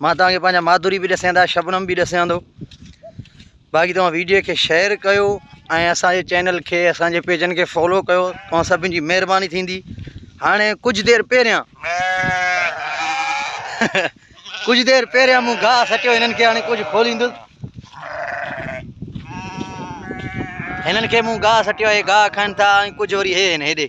مان توهان کي پنهنجا ماڌوري به ڏسيان ٿا شبنم به ڏسيان ٿو باقي توهان ويڊيو کي شيئر ڪيو ۽ اسانجي چينل کي اسانجي پيجن کي فالو ڪيو توهان سڀن جي مهرباني ٿيندي هاڻي ڪجهه دير پهريان ڪجهه دير پهريان مون گاهه سٽيو هنن کي هاڻي ڪجهه کوليندس هنن کي مون گاهه سٽيو آهي گاهه کائن ٿا ۽ ڪجهه وري هي هن هيڏي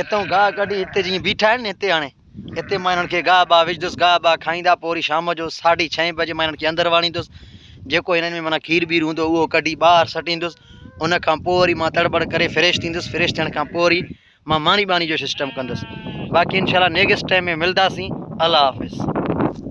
اتئون گاهه ڪڍي هتي جيئن بيٺا آهن نه هتي آڻي هتي مان هنن کي گاهه باهه وجهندس گاهه باهه کائيندا پوء وري شام جو ساڍي ڇهين بجي مان هنن کي اندر واڙيندس جيڪو هنن ۾ معنيٰ کير بير هوندو اهو ڪڍي ٻاهر سٽيندس ان کان پوء وري مان تڙٻڙ ڪري فريش ٿيندس فريش ٿيڻ کان پوء وري مان ماني ٻاني جو سسٽم ڪندس باقي انشاءالله نيڪسٽ ٽائم ۾ ملداسين الله حافظ